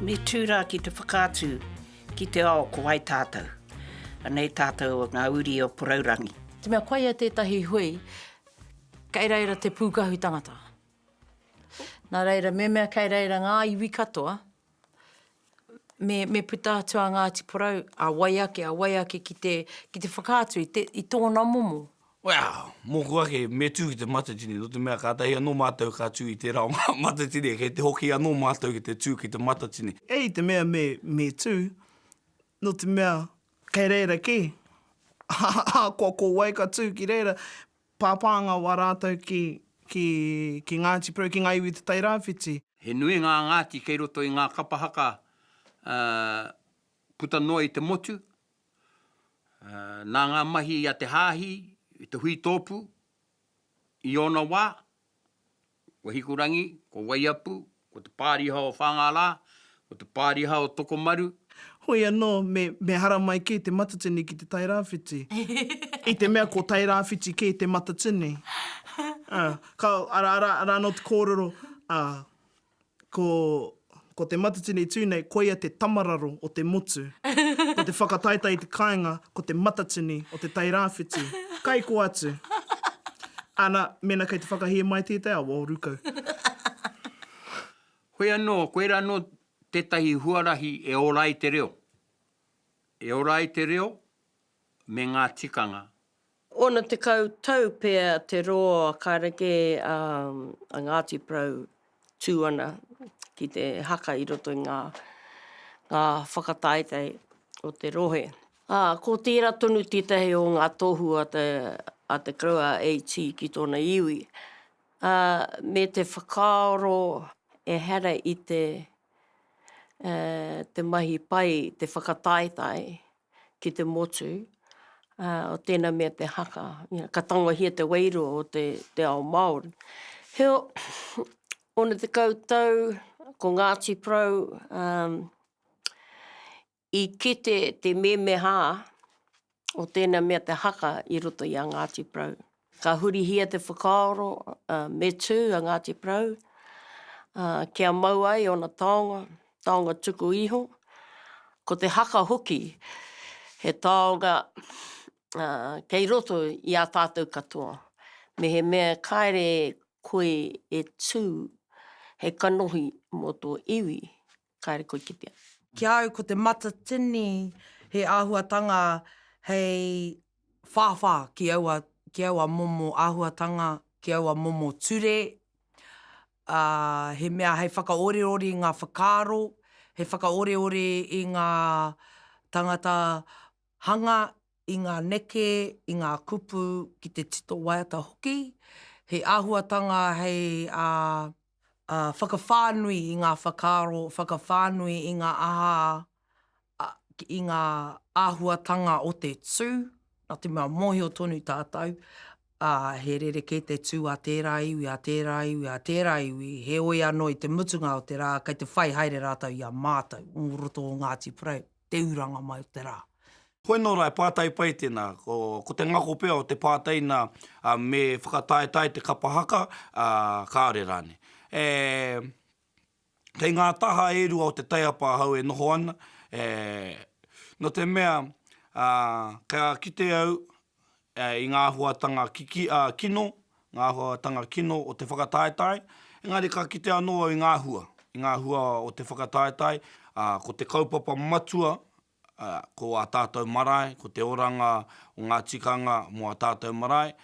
Me tū rā ki te whakaatu ki te ao ko wai tātou. Anei tātou ngā uri o Porourangi. Te mea koia tētahi hui, kei reira te pūkahu tangata. Nā reira, me mea kei reira ngā iwi katoa, me, me puta atu a Ngāti Porou, a wai ake, a wai ake ki te, ki te whakaatu i te, i tōna momo, Wow! Mōku ake, me tū ki te matatini, nō te mea kātahi anō mātou ka tū i tērā o ngā matatini, kei te hoki anō mātou ki te tū ki te matatini. Hei te mea me, me tū, nō te mea kei reira kē, ahakoa ko wai ka tū ki reira, pāpānga wā rātou ki, ki, ki Ngāti Porou, ki ngā iwi o Te Tai Rāwhiti. He nui ngā Ngāti kei roto i ngā kapa haka, ā, puta noa i te motu, Nā ngā mahi a te Hāhi i te hui tōpū i ōna wā, ko Hikurangi, ko Waiapu, ko Te Pāriha o Whāngārā, ko Te Pāriha o Tokomaru. Hoi anō, me hara mai kē te matatini ki te Tairāwhiti, i te mea ko Tairāwhiti kē te matatini. Arā anō te kōrero, ā. Ko, ko te matatini tū nei, koia te tamararo o te motu. Ko te whakataetae i te kāinga, ko te matatini o Te Tai Rāwhiti. Kai kō atu. Ana, mēnā kei te whakahē mai tētai awa o Rukau. Hoi anō, koirā anō tētahi huarahi e ora ai te reo. E ora ai te reo me ngā tikanga Ōna tekau tau pea te roa kareke a Ngāti Porou tū ana ki te haka i roto i ngā whakataetae o te rohe. Ā, ko tērā tonu tētahi o ngā tohu a Te Koroua AT ki tōna iwi, ā, me te whakaaro ehara i te mahi pai, te whakataetae, ki te motu, o tēnā mea te haka, ka tangohia te wairua o te ao Māori. Heo, ona tekau tau, ko Ngāti Porou i kite te mēmehā o tēnā mea te haka i roto i a Ngāti Porou. Ka hurihia te whakaaro me tū a Ngāti Porou kia mau ai ōna taonga, taonga tuku iho, ko te haka hoki he taonga kei roto i a tātou katoa. Mehemea kāre koe e tū hei kanohi mō tō iwi, kāre koe kitea. Ki a au ko te matatini he āhuatanga hei whāwhā ki aua, ki aua momo āhuatanga, ki aua momo ture, ā, he mea hei whakaoreore i ngā whakaaro, hei whakaoreore i ngā tāngata hanga, i ngā neke, i ngā kupu ki te tito waiata hoki. He āhuatanga hei, ā, ā, whakawhānui i ngā whakaaro, whakawhānui i ngā aha, i ngā āhuatanga o te tū, nā te mea mōhio tonu tātou, ā, he rerekē te tū a tērā iwi, a tērā iwi, a tērā iwi, heoi anō i te mutunga o te rā kei te whai haere rātou i a mātou, o roto o Ngāti Porou. te uranga mai o te rā. Koe nō rā e pātai pai tēnā, ko te ngako pea o te pātai nā me whakataetae te kapa haka, ā, kāore rānei. E, kei ngā taha e rua o te taiapa ahau e noho ana, e, nō te mea, ā, ka kite au, i ngā āhuatanga kiki, ā, kino, ngā āhuatanga kino o te whakataetae, engari ka kite anō au i ngā hua, i ngā hua o te whakataetae, ā, ko te kaupapa matua, ā, ko ā tātou marae, ko te oranga o ngā tikanga mō ā tātou marae.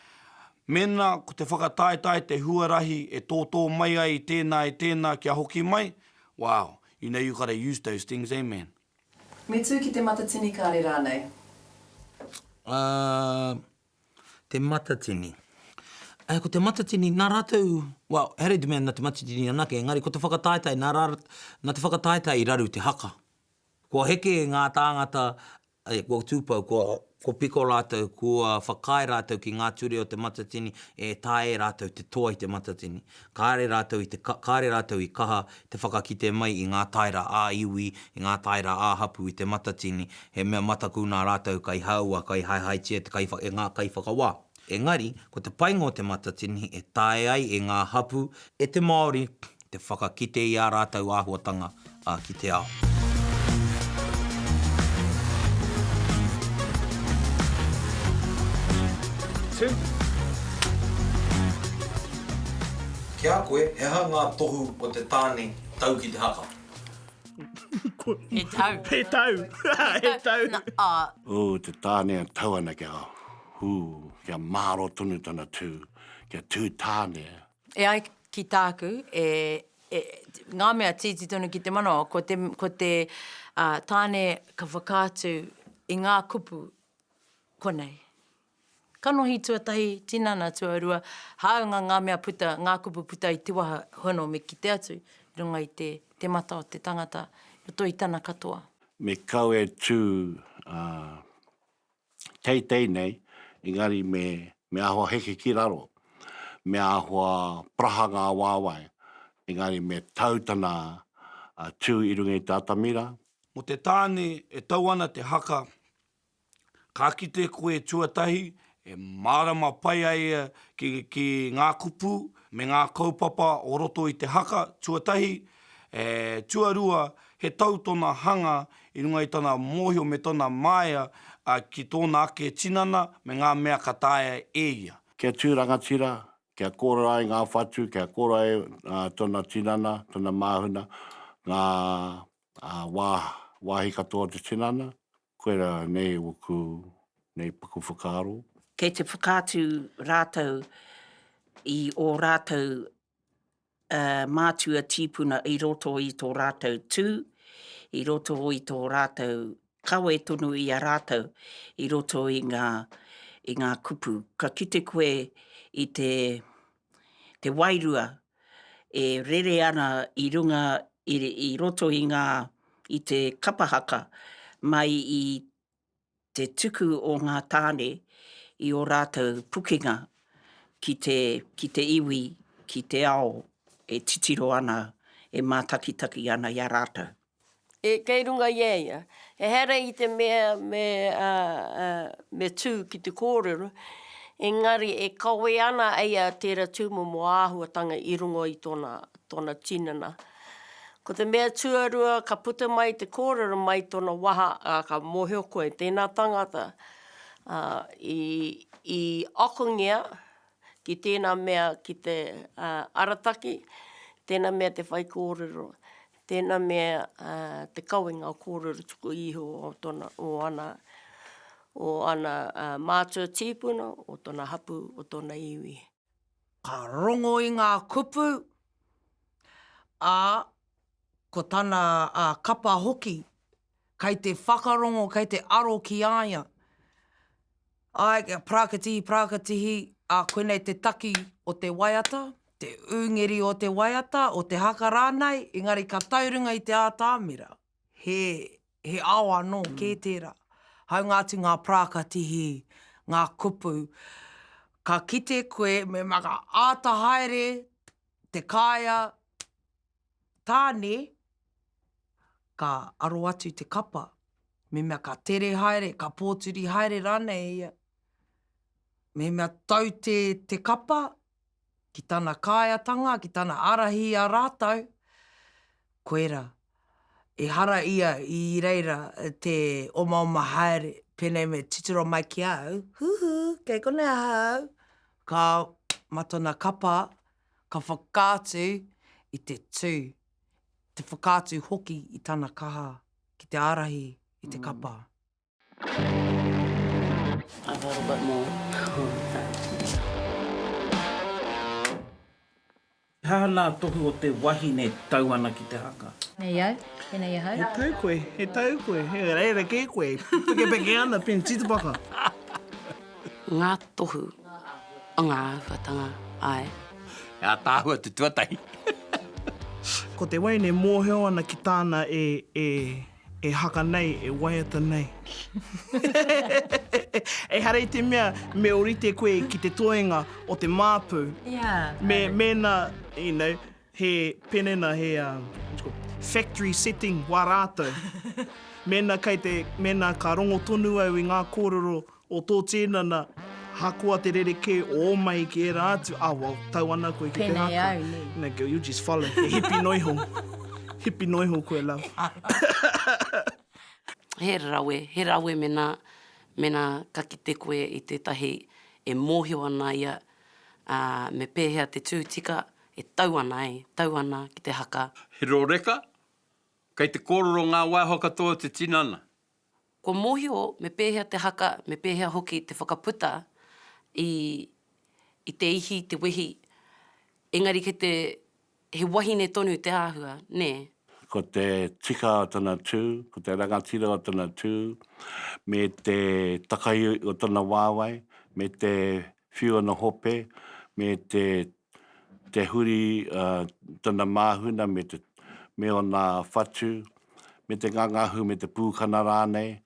Mēnā ko te whakataetae te huarahi e tōtō mai ai i tēnā, i tēnā kia hoki mai, wow, you know you've got to use those things, eh man? Me tū ki te matatini kāre rānei. Ā, te matatini. Ā, ko te matatini, nā rātou, well, he reira te mea nā te matatini anake, engari ko te whakataetae, nā rā, nā te whakataetae i raru te haka. Kua heke ngā tāngata, kua tūpou, kua Ko Piko rātou, kua whakaae rātou ki ngā ture o te Matatini e taea e rātou te toa i te Matatini. Kāre rātou i te kāre rātou i kaha te whakakite mai i ngā taera ā-iwi, i ngā taera ā-hapū i te Matatini, he mea mataku nā rātou kai hāua, kai haehaetia te kai, e ngā kaiwhakawā. Engari, ko te painga o Te Matatini e taea ai e ngā hapū, e te Māori, te whakakite i ā rātou āhuatanga ki te ao. Ki a koe, he aha ngā tohu o te tāne tau ki te haka? He tau. He tau. He tau. Nā, ā. Ū, te tāne e tau ana kia. Hū, kia mārō tonu tana tū, kia tū tāne. E ai ki tāku, e, e, ngā mea tīti tonu ki te manawa, ko te, ko te uh, tāne ka whakaatu i ngā kupu konei. Kanohi tuatahi, tinana tuarua, hāunga ngā mea puta, ngā kupu puta i te waha hono me kite atu, runga i te, te mata o te tangata, roto i tana katoa. Me kau e tū, uh, teitei nei, engari me, me āhua heke ki raro, me āhua paraha ngā wāwae, engari me tau tana tū i runga i te atamira. Mō te tāne e tau ana te haka, ka kite koe tuatahi e mārama pai ai ia ki, ki ngā kupu me ngā kaupapa o roto i te haka, tuatahi, e, tuarua, He tau tōna hanga i runga i tana mōhio me tōna māia ki tōna ake tinana me ngā mea ka taea e ia. Kia tū rangatira, kia kōrero ai ngā whatu, kia kōrero ai tōna tinana, tōna māhuna, ngā wāhi katoa o te tinana, koirā nei ōku nei paku whakaaro. Kei te whakaatu rātou i ō rātou mātua tīpuna i roto i tō rātou tū, i roto i tō rātou kawe tonu i a rātou, i roto i ngā, i ngā kupu. Ka kite koe i te, te wairua e rere ana i runga, i, i roto i ngā, i te kapa haka, mai i te tuku o ngā tāne i ō rātou pukenga ki te, ki te iwi, ki te ao e titiro ana, e mātakitaki ana i a rātou. E, kei runga i a ia. Ehara i te mea me, ā, ā, me tū ki te kōrero, engari e kawē ana a ia tērā tūmomo āhuatanga i runga i tōna, tōna tinana. Ko te mea tuarua ka puta mai te kōrero mai tōna waha, ā, ka mōhio koe, tēnā tangata, ā, i, i akongia ki tēnā mea ki te, ā, arataki, tēnā mea te whaikōrero, tēnā mea, ā, te kawenga o kōrero tuku iho o tōna, o ana, o ana, ā, mātua tīpuna, o tōna hapū, o tōna iwi. Ka rongo i ngā kupu, ā, ko tana kapa hoki, kei te whakarongo, kei te aro ki a ia. Āe, kia parakatihi, parakatihi, ā, koinei te taki o te waiata, te ūngeri o te waiata, o te haka rānei, engari ka tau runga i te ātamira, he He ao anō kē tērā. Hāunga atu ngā parāka tihi, ngā kupu, ka kite koe me maka āta haere te kāea tāne, ka aro atu te kapa, mehemea ka tere haere, ka pōturi haere rānei ia. Mehemea tau te kapa, ki tana kāiatanga, ki tana ārahi i a rātou, koirā, ehara ia i reira te omaoma haere, pēnei me titiro mai ki a au, Huhu, kei konei ahau! Ka ma tona kapa, ka whakaatu i te tū, te whakaatu hoki i tana kaha ki te ārahi i te kapa. He aha nā tohu o te wahine tau ana ki te haka? Nei au, tēnei ahau. He tau koe, he tau koe, he rerekē koe, pekepeke ana pēnei, titipaka. Ngā tohu o ngā āhuatanga, āe. He ātaahua te tuatahi. Ko te waina e mōhio ana ki tāna e. E haka nei, e waiata nei. Ehara i te mea me orite koe ki te toenga o te māpu. Ia. Me, mēnā, you know, he penena, he, um, what you call, factory setting wā rātou. Mēnā kei te, mēnā ka rongo tonu au i ngā kōrero O tō tinana, hakoa te rerekē o ō mahi ki ērā atu, a, well, tau ana koe ki te haka. Pēnei au, nē. Nē, girl, you just follow. He hipi noa iho. Hipi noa iho koe, love. He rawe, he rawe mēnā, mēnā ka kite koe i tētahi e mōhio ana ia, ā, me pēhea te tū tika e tau ana, ē, tau ana ki te haka. He rōreka, kei te kōrero ngā waiho katoa o te tinana. Kua mōhio me pēhea te haka, me pēhea hoki te whakaputa i i te ihi, i te wehi, engari kei te, he wahine tonu te āhua, nē? Ko te tika o tana tū, ko te rangatira o tana tū, me te takaiui o tana wāwae, me te whiu ana hope, me te te huri a tana māhuna me te me ōna whatu, me te ngangahu me te pūkana rānei.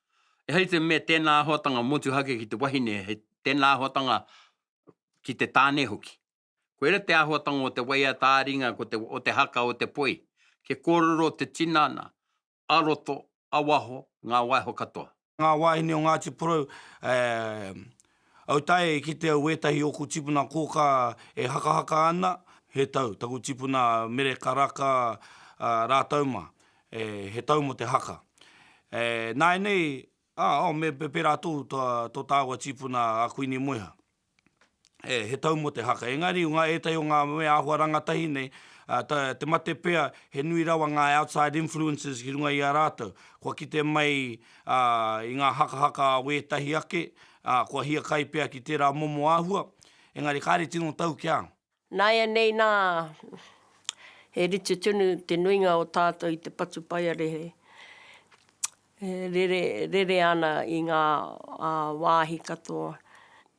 E hei te mea tēnā āhuatanga motuhake ki te wahine, he tēnā āhuatanga ki te tāne hoki. Koira te āhuatanga o te waiata ā-ringa o te haka o te poi, kia kōrero te tinana a roto, a waho, ngā waiho katoa. Ngā wāhine o Ngāti Porou, eh, au tae e kite au wētahi o ōku tipuna kōkā e hakahaka ana, he tau, taku tipuna Mere Karaka rātou mā, eh, he tau mō te haka. Eh, nāianei, ah, oh, me pērā tō, tō tāua tipuna a Kuini Moeha. he tau mō te haka. Engari, o ngā ētahi o ngā mea āhua rangatahi nei, te mate pea, he nui rawa ngā outside influences ki runga i a rātou. Kua kite mai i ngā hakahaka a wētahi ake, kua hiakai pea ki tērā momo āhua, engari kāre tino tau kia. Nāianei nā, he rite tonu te nuinga o tātou i te patupaiarehe e rere, rere ana i ngā wāhi katoa.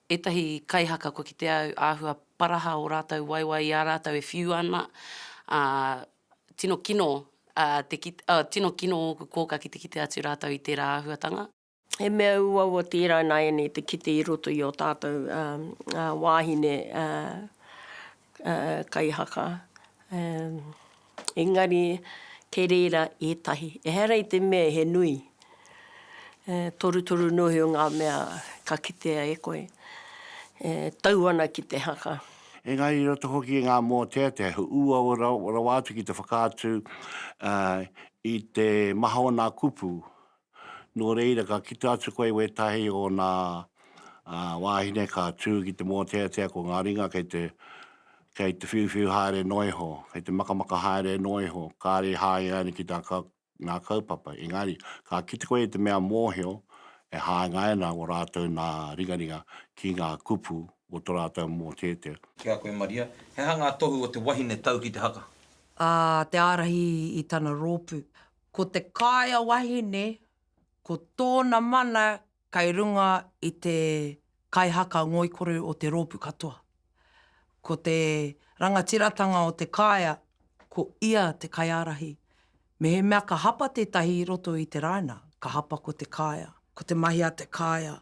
Ētahi kaihaka kua kitea au āhua paraha ō rātou waewae i a rātou e whiu ana, ā, tino kino, ā, te kite, ā, tino kino ōku kōkā ki te kite atu rātou i tērā āhuatanga. He mea uaua tērā nāianei te kite i roto i ō tātou wāhine kaihaka, engari kei reira ētahi, ehara i te mea he nui, torutoru noa iho ngā mea ka kitea e koe, e tau ana ki te haka. Engari i roto hoki i ngā mōteatea, he uaua rawa atu ki te whakaatu i te maha o nā kupu Nō reira, ka kite atu koe i wētahi o ōna wāhine ka tū ki te mōteatea ko ngā ringa kei te, kei te whiuwhiu haere noa iho, kei te makamaka haere noa iho, kāre i hāngai ana ki tā kau, ngā kaupapa. Engari, ka kite koe i te mea mōhio e hāngai ana ō rātou nā ringaringa ki ngā kupu o tō rātou mōteatea. Ki a koe, Maria, he aha ngā tohu o te wahine tau ki te haka? Ā, te ārahi i tana rōpū. Ko te kāea wahine, ko tōna mana kei runga i te kaihaka ngoikore o te rōpū katoa. Ko te rangatiratanga o te kāea, ko ia te kaiārahi. Mehemea ka hapa tētahi i roto i te rāina, ka hapa ko te kāea. Ko te mahi a te kāea,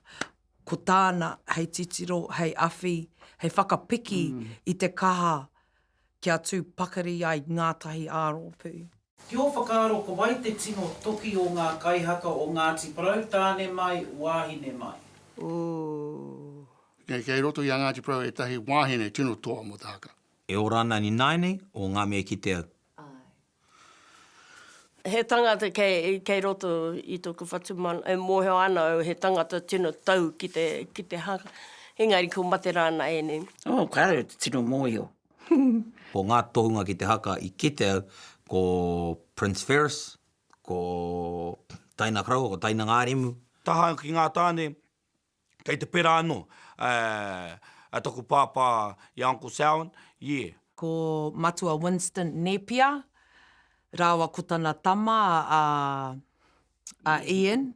ko tāna hei titiro, hei awhi, hei whakapiki i te kaha Kia tū pakari ai ngātahi ā-rōpū. Ki ō whakaaro ko wai te tino toki o ngā kaihaka o Ngāti Porou, tāne mai, wāhine mai? Ooh. Nei kei roto i a Ngāti Porou ētahi wāhine tino toa mō te haka. E ora ana ni nāianei o ngā mea ki te au. Āe. He tangata kei roto i toku whatumana, e mohio ana au he tangata tino tau ki te haka, engari ko mate ra na enei. Oh, kare te tino mohio. Ko nga tohunga ki te haka i kite au, ko Prince Ferris, ko Taina Koroua, ko Taina Ngarimu. Taha ki nga tane, Kei te pera ano a taku pāpā i a Uncle Samhain, yeah. Ko Matua Winston Nepia rāua ko tana tama a a Ian,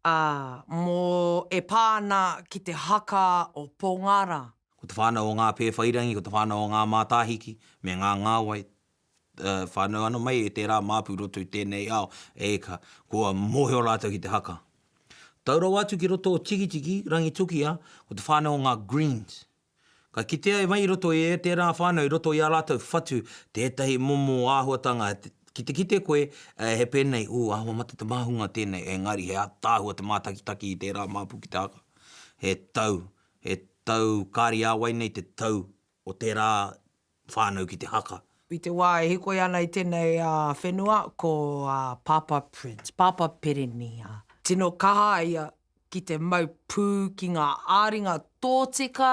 a, mo e pā ana ki te haka o Pongara. Ko te whānau o ngā Pēwhairangi, ko te whānau o ngā Mātāhiki me ngā Ngāwai, whānau ana mai e tērā māpu roto i tēnei ao, e ka, kua mōhio rātou ki te haka. Tau rawa atu ki roto o Tikitiki, Rangitukia, ko te whānau o ngā Greens. Ka kitea mai i roto i tērā whānau, i roto i ā rātou whatu, tētahi momo āhuatanga, ki te kite koe, he pēnei, ū, āhua mate te māhunga tēnei, engari he ataahua te mātakitaki i tērā māpu ki te haka. He tau, he tau kāri ā wai nei te tau o tērā whānau ki te haka. I te wā e hikoi ana i tēnei whenua ko Pāpā Prince, Pāpā Perenīa. Tino kaha a ia ki te mau pū ki ngā āringa tōtika,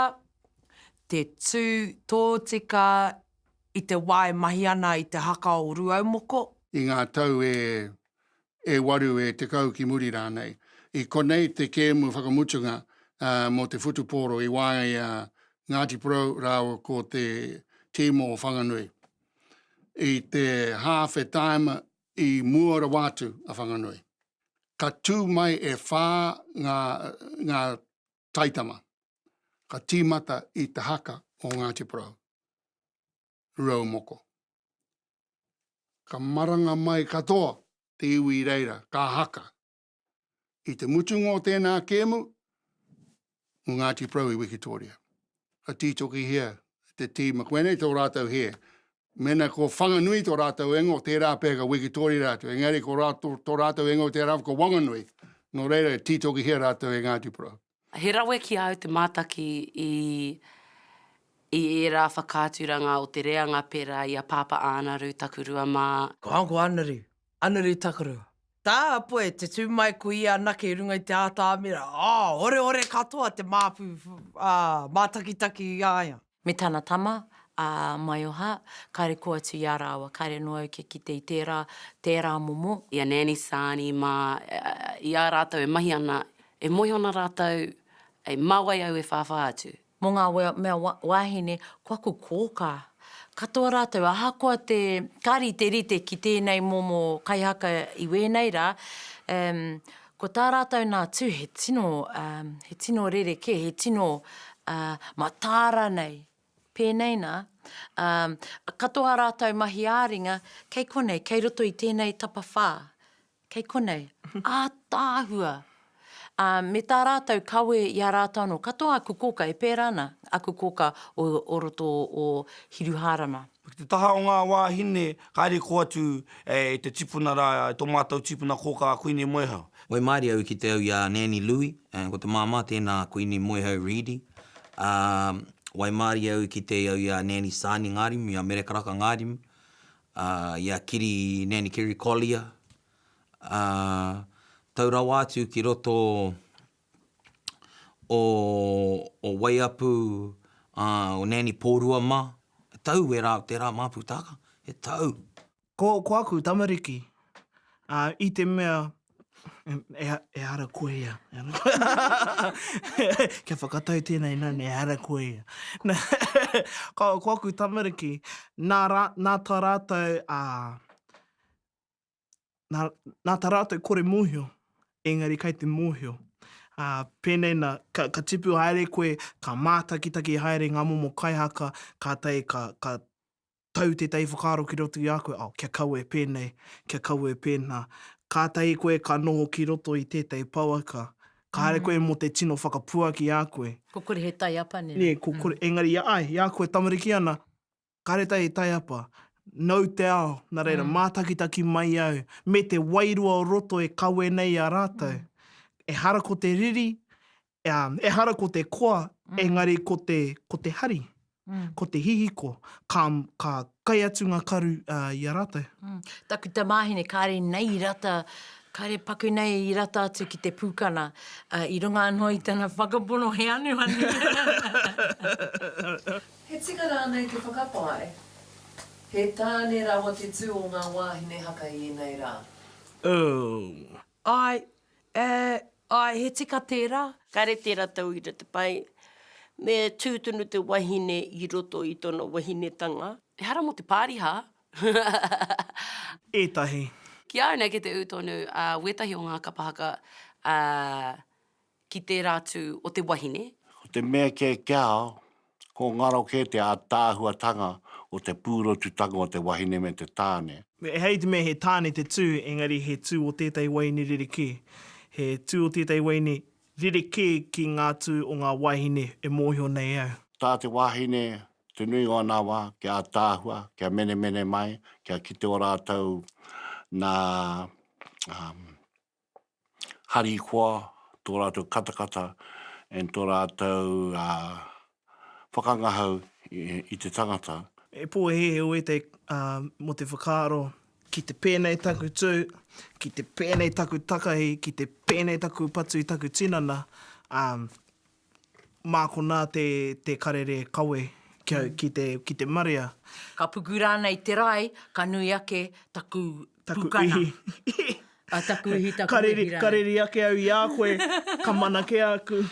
te tū tōtika i te wā e mahi ana i te haka o Rūaumoko. I ngā tau e e waru, e tekau ki muri rānei. I konei te kēmu whakamutunga mō te whutupōro i waenga i a Ngāti Porou rāua ko te tīma o Whanganui. I te hāwhe-taima i mua rawa atu a Whanganui. Ka tū mai e whā ngā taitama ka tīmata i te haka o Ngāti Porou. rurau moko. Ka maranga mai katoa te iwi i reira, ka haka. I te mutunga o tēnā kēmu, mo Ngāti Porou i Wikitoria. Ka tītokihia te tīma, koinei tō rātou hē. Mēnā ko Whanganui tō rātou ingoa, tērā pea ka Wikitoria rātou. Engari ko tō rātou ingoa tērā ko Wanganui. Nō reira, tītokihia rātou e Ngāti Porou. He rawe ki a au te mātaki i i ērā whakaaturanga o te reanga pērā i a Pāpā Ānaru Takurua mā. Ko Uncle Ānaru, Ānaru Takurua. Tā a Poe te tū mai ko ia anake i runga i te ātaamira, oh, oreore katoa te māpu, ah, mātakitaki i a ia. Me tana tama, a Maioha, kare kō atu i a rāua, kare noa au kia kite i tērā, tērā momo. I a Nanny Saani mā, i a rātou e mahi ana, e moe ana rātou, ē, mā wai au e whāwhā atu? Mō ngā mea wāhine, ko aku kōkā. Katoa rātou, ahakoa te, ka riterite ki tēnei momo kaihaka i wēnei rā, ē, Ko tā rātou nā tū he tino, um, he tino rerekē, he tino uh, matāra nei. Pēnei nā, um, katoa rātou mahi āringa, kei konei, kei roto i tēnei tapawhā, kei konei, ātaahua. Uh, me tā rātou kawe i a rātou anō, katoa aku kōka e pērā ana, aku kōka o, o roto o Hiruhārama. Ki te taha o ngā wāhine, kāre kō atu e te tipuna rā, e tō mātou tīpuna kōkā a Kuini Moehau. Moe mārie au ki te au i a Nanny Lui, ko te māmā tēnā a Kuini Moehau Reedy. Ā, waimārie au ki te au i a Nanny Sani Ngārimu, i a Mere Karaka Ngārimu, ā, i a Kiri, Nanny Kiri Collier. Ā, tau rawa atu ki roto o o Waiapu a o Nani Porua ma he tau wera o tera Maputaka he tau. Ko ko aku tamariki a i te mea e hara koe ia kia whakatau tena i nana e hara koe ia na ko ko aku tamariki na ra na ta ratou a nā, nā tā rātou kore mōhio, engari kai te mōhio. Ā, pēnei nā, ka, ka tipu haere koe, ka mātakitaki haere ngā momo kaihaka, kātahi ka, ka tau tētahi whakaaro ki roto i a koe, oh, kia kawe pēnei, kia kawe pēnā. Kātahi koe ka noho ki roto i tētahi pouaka, kāre koe mō te tino whakapuaki i a koe. Ko kore he taiapa, nē. Nē, ko kore, engari i a, ai, i a koe tamariki ana, Kareta e taiapa, nau te ao, na reira, mātakitaki mai au, me te wairua o roto e kawe nei i a rātou. Ehara ko te riri, ā, ehara ko te koa, engari ko te, ko te hari, ko te hihiko, ka, ka kai atu ngā karu, ā, i a rātou. Taku tamāhine, kāre nei i rata, kāre paku nei i rata atu ki te pūkana, ā, i runga anō i tana whakapono he anuanu. He tika rānei te whakapae, he tāne rawa te tū o ngā wāhine haka i ēnei rā? Ooh. Āe, eh, āe, he tika tērā. Kāre tērā tauira te pai, me tū tonu te wahine i roto i tōna wahinetanga. Ehara mō te pāriha. Ētahi. Ki au nei kei te ū tonu wētahi o ngā kapa haka, ā. Ki tērā atu o te wahine. Ko te mea kē ki a au, ko ngaro kē te ātaahuatanga o te pūrotutanga o te wahine me te tāne. Ehara i te mea he tāne te tū, engari he tū o tētahi waeine rerekē. He tū o tētahi waeine rerekē ki ngā tū o ngā wāhine e mōhio nei au. Tā te wāhine, te nuinga o nā wā, kia ātaahua, kia menemene mai, kia kite ō rātou nā harikoa, tō rātou katakata, and tō rātou whakangahau i te tangata. He pōhēhē wētei mō te whakaaro, ki te pēnei taku tū, ki te pēnei taku takahi, ki te pēnei taku patu i taku tinana, ā, Mā konā te, te karere kawe kia, ki te, ki te marea. Ka puku rānei te rae, ka nui ake taku pukana. Taku uhi. taku uhi, taku uhi rānei. Ka reri, ka reri ake au i a koe, ka mana kē aku,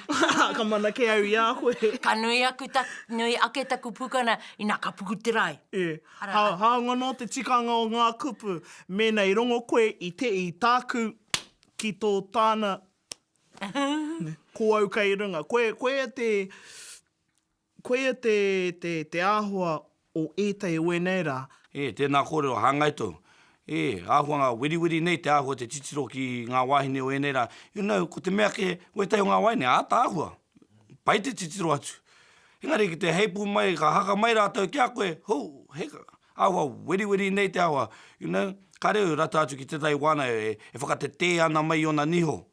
ka mana kē au i a koe. Ka nui aku ta, nui ake taku pukana, inā ka puku te rae. E. Ara. Hā, hāunga nō te tikanga o ngā kupu, mēnā i rongo koe i te, i tāku, ki tō tāna, Ko au kei runga. Koe, koia te, koia te, te, te āhua o ētahi o ēnei rā. E, tēnā kōrero, hāngai tōu. E, āhua ngā wiriwiri nei te āhua te titiro ki ngā wāhine o ēnei rā. You know, ko te mea kē, ko ētahi o ngā wāhine, āta āhua. Pai te titiro atu. Engari ki te heipū mai, ka haka mai rātou ki a koe, hou, hei, Ahakoa weriweri nei te awa, you know, kare au e rata atu ki tetahi wana e whakatetē ana mai i ona niho.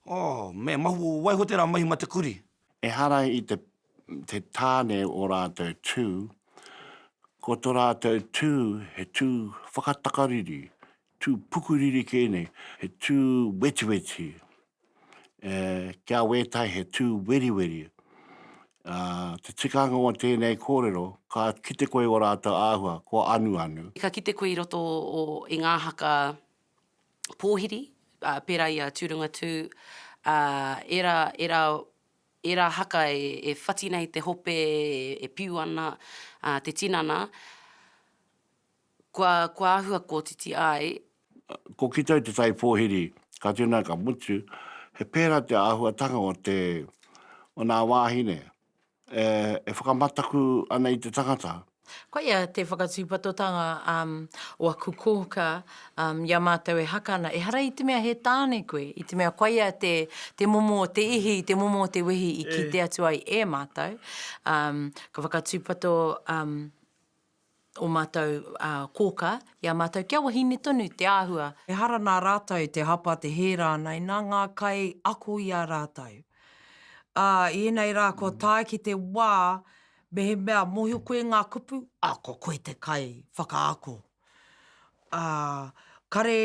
Oh, me mahu, waiho tera mahi ma te kuri. Ehara i te te tāne o rātou tū, ko to rātou tū he tū whakatakariri, tū pukuriri kē nei, he tū wetiweti, e, kia wētai he tū weriweri. Ā, te tikanga o tēnei kōrero, ka kite koe i ō rātou āhua, kua anuanu. Ka kite koe i roto o, i ngā haka pōhiri, ā, pērā i a Tūrangatū, ā, ērā, ērā, ērā haka e, e whati nei te hope e, e piu ana, ā, te tinana. Kua āhua kotiti ai. Ko Kitau te tai pōhiri, ka tena ka mutu, he pērā te āhuatanga o te, o nā wāhine, e, e whakamataku ana i te tangata. Koia te whakatūpatotanga o aku kōka i a mātou e haka ana, ehara i te mea he tāne koe, i te mea koia te momo o te ihi, te momo o te wehi i kite atu ai e mātou. Ka whakatūpato. ō mātou kōkā i a mātou kia wahine tonu te āhua. Ehara nā rātou te hapa te hē rānei, nā ngā kai ako i a rātou. Ā, i ēnei rā kua tae ki te wā mehemea mōhio koe i ngā kupu, ā, ko koe te kai whakaako. Ā, kare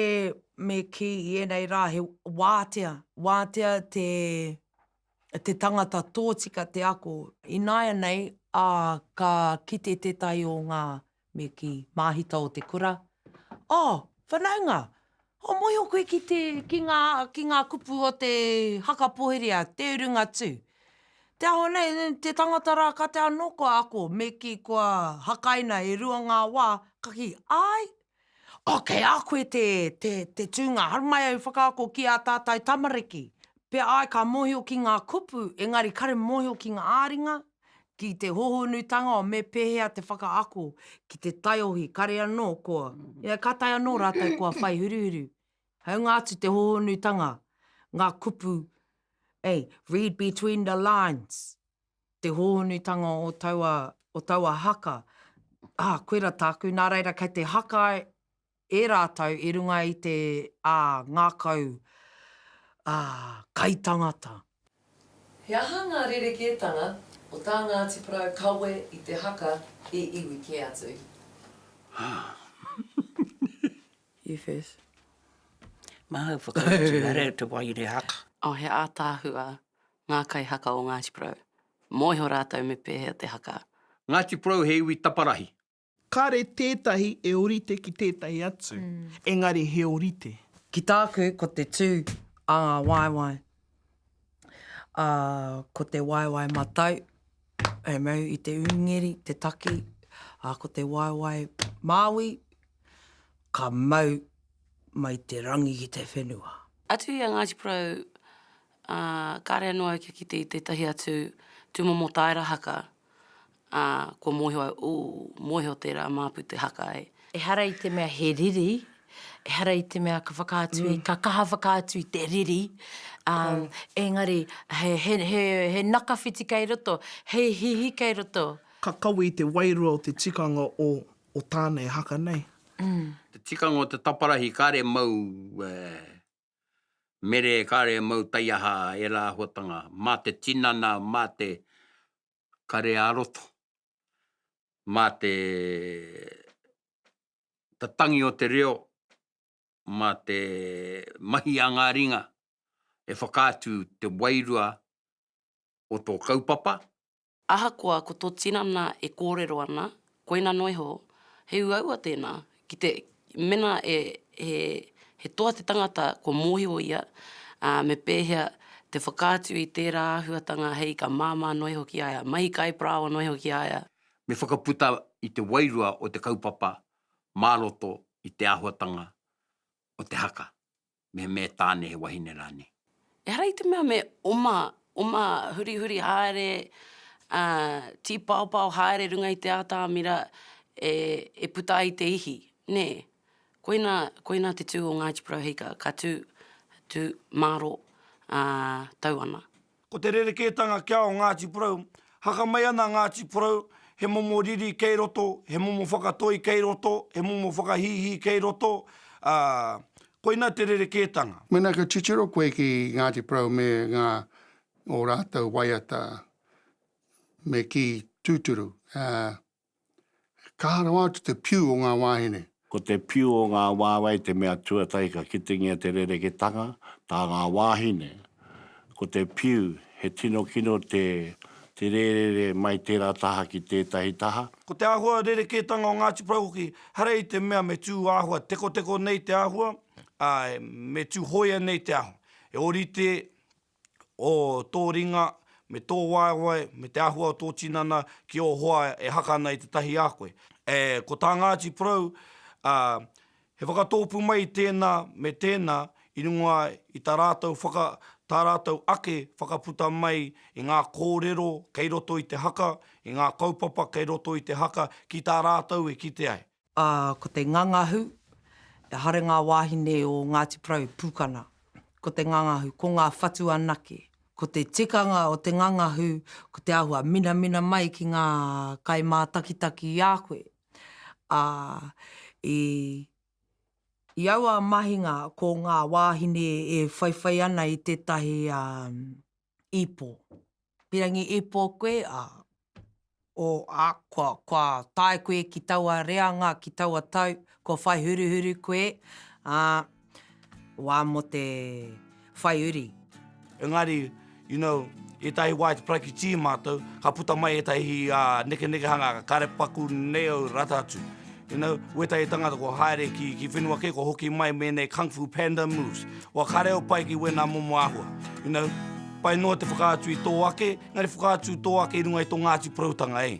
me kī i ēnei rā he wātea, wātea te. te tangata tōtika te ako. Ināianei ā, ka kite tētahi o ngā, me kī, māhita o te kura, Oh, whanaunga! Oh, mōhio koe ki te, ki ngā, ki ngā kupu o te haka poheria, te urunga tū. Te aho nei, te tangata rā ka te anō kua ako, me kī, kua hakaina e rua ngā wā, ka kī, Āe! Oh, kei a koe te, te, te tūnga, haru mai au whakaako ki ā tātou tamariki. Pea ai ka mōhio ki ngā kupu, engari kare mōhio ki ngā ā-ringa, ki te hōhonutanga o me pēhea te whakaako ki te taiohi, kare anō kua, yeah, ka tae anō rātou kua whai huruhuru. Haunga atu te hōhonutanga, ngā kupu, eh, read between the lines. te hōhonutanga o taua, o taua haka, ā, koira tāku, nā reira kei te haka e rātou i runga i te, ā, ngākau, ā, kaitangata. He aha ngā rerekētanga o tā Ngāti Porou kawe i te haka he iwi kē atu? You first. Māu whakautu, nā reira te wai i te haka. Oh, he ātaahua Ngā kaihaka o Ngāti Porou. Mōhio rātou me pēhea te haka. Ngāti Porou he iwi taparahi. Kāre tētahi e orite ki tētahi atu, engari he orite. Ki tāku, ko te tū a ngā waewae, ā, ko te waewae matau, hei mau i te ūngeri, te taki, ā, ko te waewae māui, ka mau mai te rangi ki te whenua. Atu i a Ngāti Porou, Ā, kāre anō au kia kite i tētahi atu tūmomo tāera haka, ā, kua mōhio au, ooh, mōhio tērā māpu te haka e. Ehara i te mea he riri, ehara i te mea ka whakaatu, ka kaha whakaatu i te riri, ā, engari he, he, he, he nakawhiti kei roto, he hihi kei roto. Ka kawe i te wairua o te tikanga o, o tāna e haka nei. Te tikanga o te taparahi kāre mau e. Mere kare mau taiaha ērā āhuatanga mā te tinana, mā te kare ā-roto, mā te tangi o te reo, mā te mahi a ngā ringa e whakaatu te wairua o tō kaupapa, Ahakoa ko tō tinana e kōrero ana, koina noa iho, he uaua tēnā, ki te, mēnā e, he, he toa te tangata kua mōhio ia, ā, me pēhea te whakaatu i tērā āhuatanga hei ka māmā noa iho ki a ia, mahi kai parāoa noa iho ki a ia. Me whakaputa i te wairua o te kaupapa mā roto i te āhuatanga o te haka. me me Tane he wahine rane. Ehara i te mea me oma, oma hurihuri haere, a, tipaopao haere runga i te atamira e, e puta ai te ihi, ne. Koina, koina te tu o Ngāti Porou Hika, ka tu, tu, maro, a, tau ana. Ko te rerekētanga kia o Ngāti Porou, haka mai ana Ngāti Porou, he momo riri kei roto, he momo whakatoi kei roto, he momo whakahīhī kei roto, ā, koina te rerekētanga. Mēnā ka titiro koe ki Ngāti Porou me ngā, ō rātou waiata, me kī tūturu, ā, Kaha rawa atu te piu o ngā wāhine. Ko te piu o ngā wāwae te mea tuatahi ka kitengia te rereketanga, tā ngā wāhine. Ko te piu, he tino kino te te rērere mai tērā taha ki tētahi taha. Ko te āhua rerekētanga o Ngāti Porou hoki, haere i te mea me tū āhua tekoteko nei te āhua, ā, me tū hōia nei te āhua. E ōrite o tō ringa, me tō waewae, me te āhua o tō tinana ki ō hoa e haka ana i te tahi a koe. E, ko tā Ngāti Porou, ā, he whakatōpū mai tēnā me tēnā i runga i tā rātou whaka, tā rātou ake whakaputa mai i ngā kōrero kei roto i te haka, i ngā kaupapa kei roto i te haka ki tā rātou e kite ai. Ā, ko te ngangahu, he aha ngā wāhine o Ngāti Porou, Pūkana, ko te ngangahu, ko ngā whatu anake. Ko te tikanga o te ngangahu, ko te āhua minamina mai ki ngā kaimātakitaki i a koe. Ā, i, i aua mahinga ko ngā wāhine e whaiwhai ana i tētahi, ā, Ipo. Pirangi ipo koe, ā, o, ā, kua, kua tae koe ki taua reanga, ki taua tau, kua whai huruhuru koe, ā, wā mō te whai uri. Engari, you know, ētahi wā i te paraikitī mātou, ka puta mai ētahi nekenekehanga, ka kare paku nei au rata atu. You know, wētahi tangata kua haere ki, ki whenua kē, kua hoki mai me ēnei kung fu panda moves. Wa kare au pai ki wēnā momo āhua. You know, pai noa te whakaatu i tō ake, engari whakaatu tō ake i runga i tō Ngāti Poroutanga, eh?